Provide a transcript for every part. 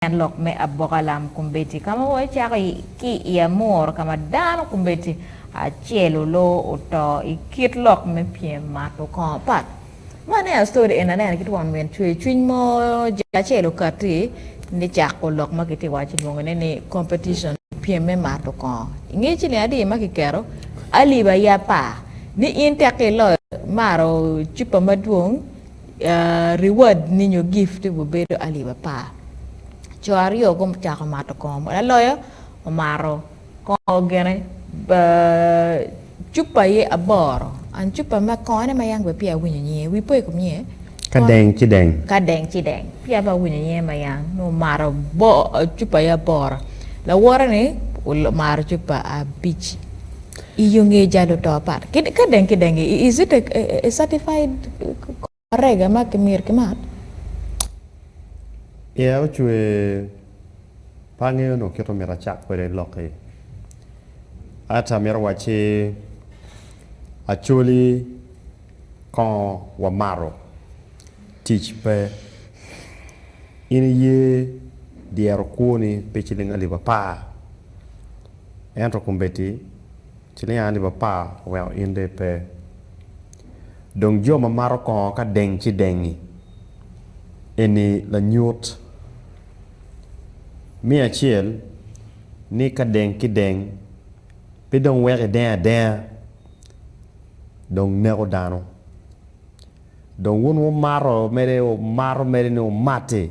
En lok me aboka lam kombeddi ka ma wacako ki i Amur ka ma dano kombeddi acel oloo oto i kit lok me pyem mato kong apat. Ma ne astori en aneno ki twon min cwercwiny mo jek acel okatti ni cako lok ma kitye waco kilwongo ne ni competition pyem me mato kong. Inge ciling adi ma kiketo alip aye apar ni in tek iloyo mato cupa madwong Reward ni nyo gift ni gubedo alip apar. Co aryo gucako mato kongo. Mo laloyo omato kongo gene cupa aye aboro. An cupa ma kongo ne ma yam pe peya awinyo nyinge. Wi po i kom nyinge. Ka deng ci deng. Ka deng ci deng. Peya pe awinyo nyinge ma yam. Nongo omato cupa aye aboro. Lawote ni omato cupa abic. I yo nge jalo to apat ki ka deng ki deng i is it a certified correga ma ki myero ki mat? Yeah ocwe pe angeyo onongo kit omyero acak kwede lok i at amyero wacci acoli kongo wa mato tic pe in iye dyero kwoni pe ciling alip apar. Ento kombeddi ciliya alip apar oweko in dong ipe. Dong jo ma mato kongo ka deng ci dengi. Eni lanyut me acel ni ka deng ki deng pe dong weko ideng adenga dong neko dano. Dong wun wumato mede, wumato mede ni wumati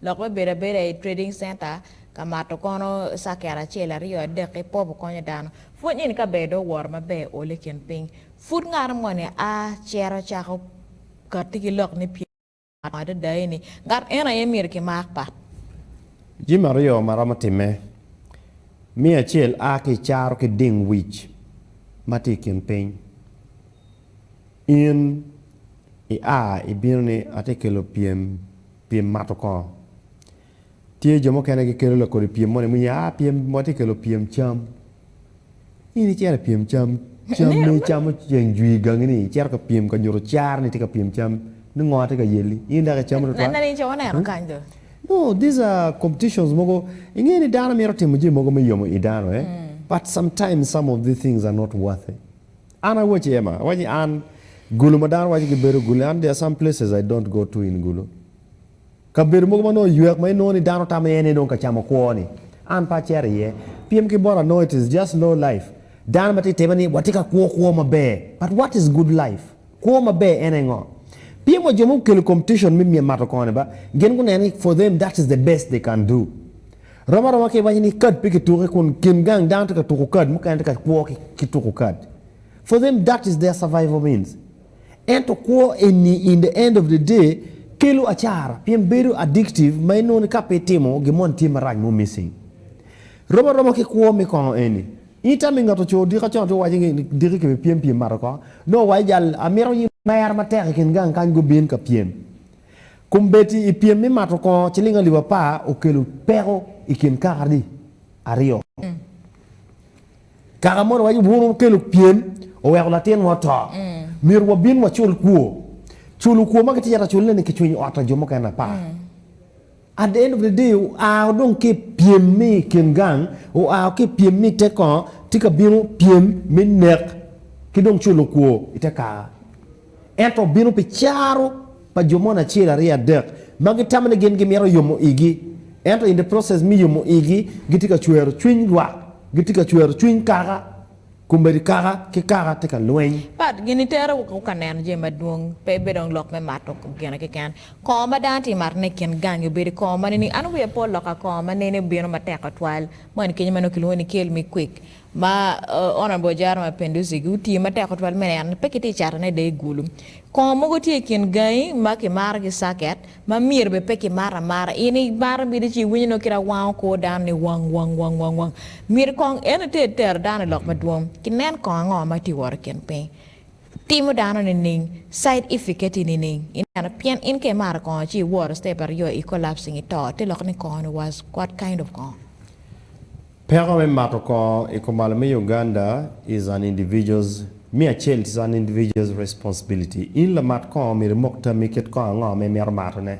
Lok me bedo abeda i trading center ka mato kono circuit acel aryo adek ki popo konyo dano pwony nini ka ber do woro maber ole kin piny pud ngato moni a cito cako kati ki lok ni pye mato adada eni ngat eno aye myero ki mak pat. Jami aryo ma romo time me acel a ki caro ki ding wic ma tye i kin piny in i a i bino ni ati kelo pyem Pyem mato kongo. Tye jo mukene gikelo lakodi pyem moni ma ah pyem watye kelo pyem cam. In icito i pyem cam, cam ma icamo ceng jwi i gangi ni icito ka pyem ka nyuto car ni itye ka pyem cam ni ngo tye ka yelli in dok icamo tutwal. Nene ni co waneno kany do. No these are competitions mogo inge ni dano mito timo jami mogo me yomo i dano eh but sometimes some of these things are not worthy. An awaci Emma, awaci ni an gulu ma dano waco gibedo gulu, an there are some places I don't go to in gulu. Kabedo mogo ma nongo oywek ma inongo ni dano tamo iye ni dong ka camo kwo ni, an pe acito iye. Piem ki bot anongo it is just low life. Dano ma tye tebe ni watye ka kwo kwo maber, but what is good life? Kwo maber en engo? Pien wa jo ma gukelo competition me mato koni ba, gin guneno ni for them that is the best they can do. Rom aroma ka iwaco ni kad pe kituke kun kin gang dano tye ka tuko kad mukene tye ka kwo ki tuko kad. For them that is their survival means. Ento kwo eni in the end of the day kelo acara pien bedo addictive ma inongo ni ka pe itimo gin moni tye marac mo missing. Rom aroma ki kwo me kongo eni. In itamo ingeto co odika con to waco ni diki kibipyem pyem mato ko nongo wa ijal amito in. Mer matek i kin gang kany gubin ka pyem. Kombeddi i pyem me mato kongo ciling alip apar okelo peko i kin kaka-ri aryo. Kaka moni waco bwunu okelo pyem, oweko latinwa oto. Myero wabin wacul kwo. Culo kwo ma kitye ka cule-ni kicwinyo ot pa jo mukene apa? At the end of the day oa dong ki pyem me i kin gang, oa ki pyem me i te kongo, tye ka bino pyem me nek ki dong culo kwo i te kaka. Ento obino pi caro pa jo moni acel, aryo, adek ma gitamo ni gin gimito yomo igi, ento in the process me yomo igi gitye ka cwero cwiny lwak, gitye ka cwero cwiny kaka. Komedi kaka ki kaka tye ka lweny. Pat, Gin itere woko ka neno jami madwong, pe bed dong lok me mato gine keken. Kongo ma dano tye matone i kin gangi obedo kongo ma nini? An wiya pe olok ka kongo ma nini obino matek tutwal ma en kenyo ma nongo kilwongo ni kel me kwik ma Honourable Ojara Mapinduzi gi otiyo matek tutwal me neno ni pe kitye ka catone i dee gulu. Kongo mogo tye i kin gangi ma kimaro ki circuit. Ma myero bed pe kimaro amara. In i maro bino ci iwinyo nongo kit awango kor dano ni wang wang wang wang wang. Myero kong eno te tero dano i lok madwong ki nen kong ango ma tye wot i kin piny. Timo dano nining? Side efficaty nining? Ineno? Pien in ka imaro kongo ci iworo step aryo i collapsing ito te lok ni kongo ni was what kind of kongo? Peko me mato kongo i kumalo me Uganda is an individual's, me acel is an individual's responsibility. In lamat kongo myero imok tammi kit kongo ango ma imito matone.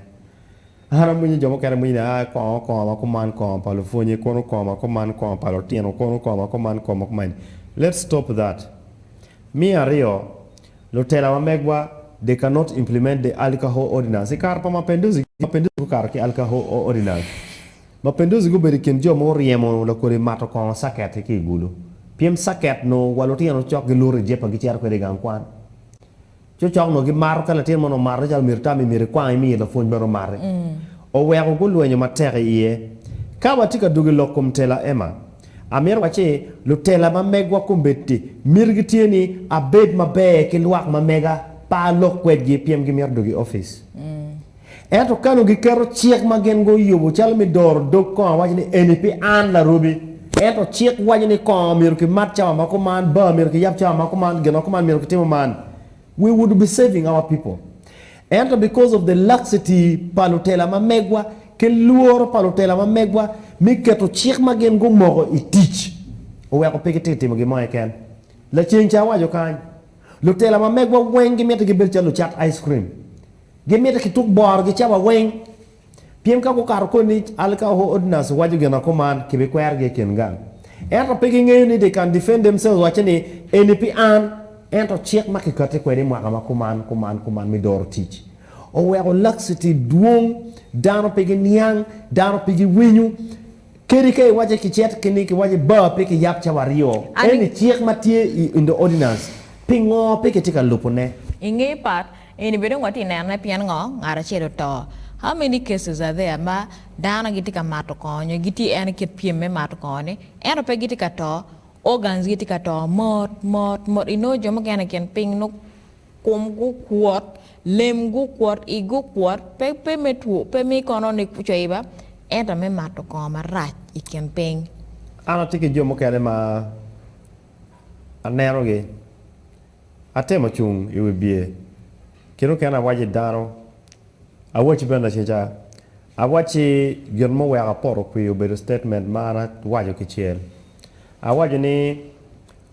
An amwinyo jo mukene mwinyni a kongo kongo ma kuman kongo pa lupwonye kono kongo ma kuman kongo pa lutino kono kongo ma kuman kongo ma kuman let's stop that. Me aryo, lutela wa megwa they cannot implement the alcohol ordinance i kare pa Mapenduzi, Mapenduzi gukato ki alcohol ordinance. Mapenduzi gubedo i kin jo ma oryemo lakodi mato kongo caket-ti ki i gulu. Pyem caket nongo wa lutino cok giluto i jepa gicito kwede i gang kwan. Cocok nongo gimato ka latin mo nongo omato calo myero itammi myero ikwang imiyi lapwony mere omati. Oweko gulwenyo matek i iye. Ka watye ka dwogo i lok kom tela, Emma, amito wac ni lutela ma megwa kombeddi mitigi tye ni abed maber ki lwak ma mega pa alok kwedgi pien gimito dwogo i opic. Ento ka onongo giketo cik ma gin guyubo calo me doro dog kongo awaco ni eni pi an larobi. Ento cik waco ni kongo myero kimat cawa ma kuman, bar myero kiyab cawa ma kuman, gin ma kuman myero kitimo man, we would be saving our people. Ento because of the laxity pa lutela ma megwa ki lworo pa lutela ma megwa me keto cik ma gin gumoko i tic oweko pe gitye ka timo gin mo keken. Laceng ca awaco kany, lutela ma megwa weng gimiti gibed calo lucat ice cream. Gimite ki tuk boro gicawa weng. Pien ka gukato koni, al ka Ordnance owaco gin ako man, kibikwerogi i kin gang. Ento pe gingeyo ni they can defend themselves wacce ni, Eni pi an. Ento cik ma kikati kwede i mwaka ma kuman, kuman, kuman me doro tic, oweko laxity dwong. Dano pe giniang, dano pe giwinyo. Kadi ka iwacce kicet ki ni kiwacce bar pe kiyab cawa aryo, Ani. eni cik ma tye i the Ordinance, pingo pe kitye ka lubone? I nge pat, In ibed ongo atye nenone pien ngo ngat acel oto. How many cases are there ma dano gitye ka mato kongo nyo gitye en ikit pyem me mato kongo ni ento pe gitye ka to organs gi tye ka to mot mot mot inongo jo mukene ikin piny nongo kom gu kwot lem gu kwot igi okwot pe pe me two pe me kono ni coiba ento me mato kongo marac ikin piny. An atye ki jo mukene ma aneno gi. Atemo cung i wi bye kit mukene awaci dano, awacci bene laceca, awacci gin muweko apoto kwir obedo statement ma an awaco kicel. Awaco ni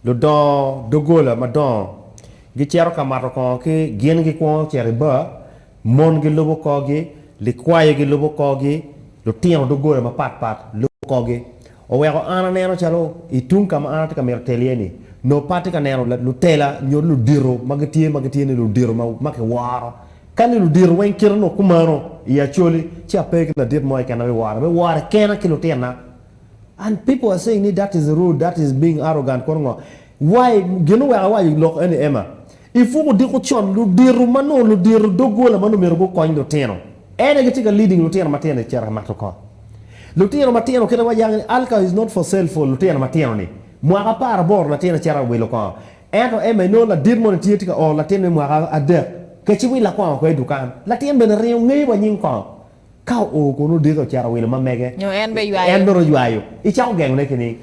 ludongo doggola madongo gicito ka mato kongo ki gin gikwongo cito i bar Mon gilubo korgi, likwayo gilubo korgi, lutino doggola mapat pat lubo korgi. Oweko an aneno calo i tung ka ma an atye ka mito tel iye-ni, nongo pe atye ka neno lutela nyo ludito ma gitye ma gitye ni ludito ma kiworo. Ka ni ludito weng kite onongo kumano i Acholi, ci ape ki ladit mo keken ma biwora. Abiwora kena ki lutinna. And people are saying ni that is rude, that is being arrogant kono ngo. Why? Gin oweko awaco lok eni Emma, I pwog odiko con, ludito ma nongo ludito doggola ma nongo myero gukony lutino en aye gitye ka leading lutino matino i cito ka mato kot. Lutino matino kit ma wayango ni Alka is not for sale for lutino matino ni mwaka apar aboro latin acito awilo kongo ento Emma inongo ladit moni tye tye ka oro latin me mwaka adek keci willa kongo kwai dukan latin bene ringo ngeyo wa nying kongo Ka oo kono odeke ocito owilo ma mege, Nyo en bene ywayo. en bene oywayo. Icako gengone ki ni,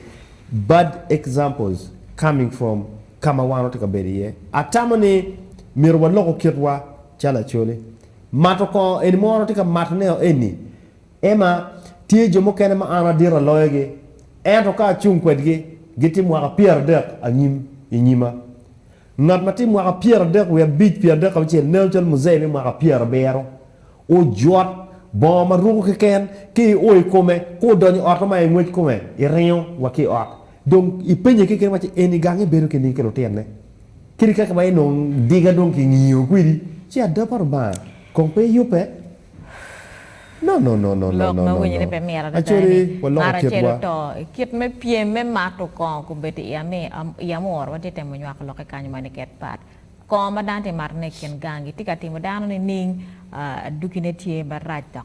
Bad examples coming from ka ma wan watye ka bedo iye. Atamo ni myero waloko kitwa calo Acholi. Mato kongo eni ma wan watye ka matone o eni, Emma, Tye jo mukene ma an adito aloyogi, ento ka acung kwedgi, gitye mwaka pyeradek anyim i nyima. Ngat ma tye mwaka pyeradek wiye abic, pyeradek ki abicel neno calo muzei me mwaka pyerabiro. Ojot, bongo ma ruko keken, ka io i kome, ka odonyo ot ma i ngwec kome, iringo wa ki i ot. Dong ipenye keken wacci, 'Eni gang ibedo keni ki lutinne? Kadi kaka ma inongo diga dong kingingo kwedi, ci ada pa Lubanga kong pe iyubbe? No, no, no, no, no, Lok ma no, no, winyere pe mit no. adada Acele, eni, waloko Ngat acel kitwa. oto. I kit me pyem me mato kongo, kobedo i ami, i amor, watye ka temo nywako lokke kany ma niket pat. Kongo ma dano tye ka matone i kin gangi tye ka timo dano nining? Adwogine tye marac dok.